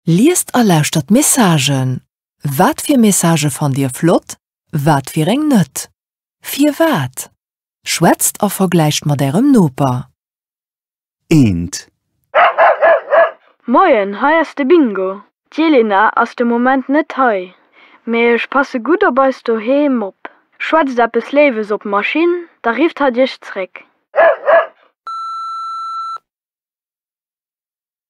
Liest a lauschtert d'Messagen. Wat fir Messagë fannt Dir flott, wat fir eng net? Firwat? Schwätzt a vergläicht mat Ärem Noper. Eent. Moien, hei ass de Bingo. D'Jelena ass de Moment net hei, mee ech passe gutt op eis doheem op. Schwätzt eppes Léiwes op d'Maschinn, da rifft hatt Iech zréck.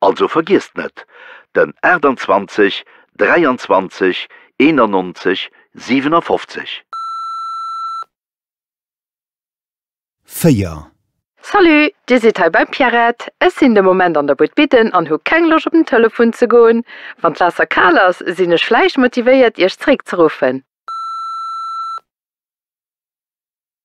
Also vergiesst net, den 28 23 91 57. Véier. Salut, Dir sidd hei beim Pierrette. Ech sinn de Moment an der Buert bidden an hu keng Loscht op den Telefon ze goen. Wann d'Waasser kal ass, sinn ech vläicht motivéiert Iech zeréckzeruffen.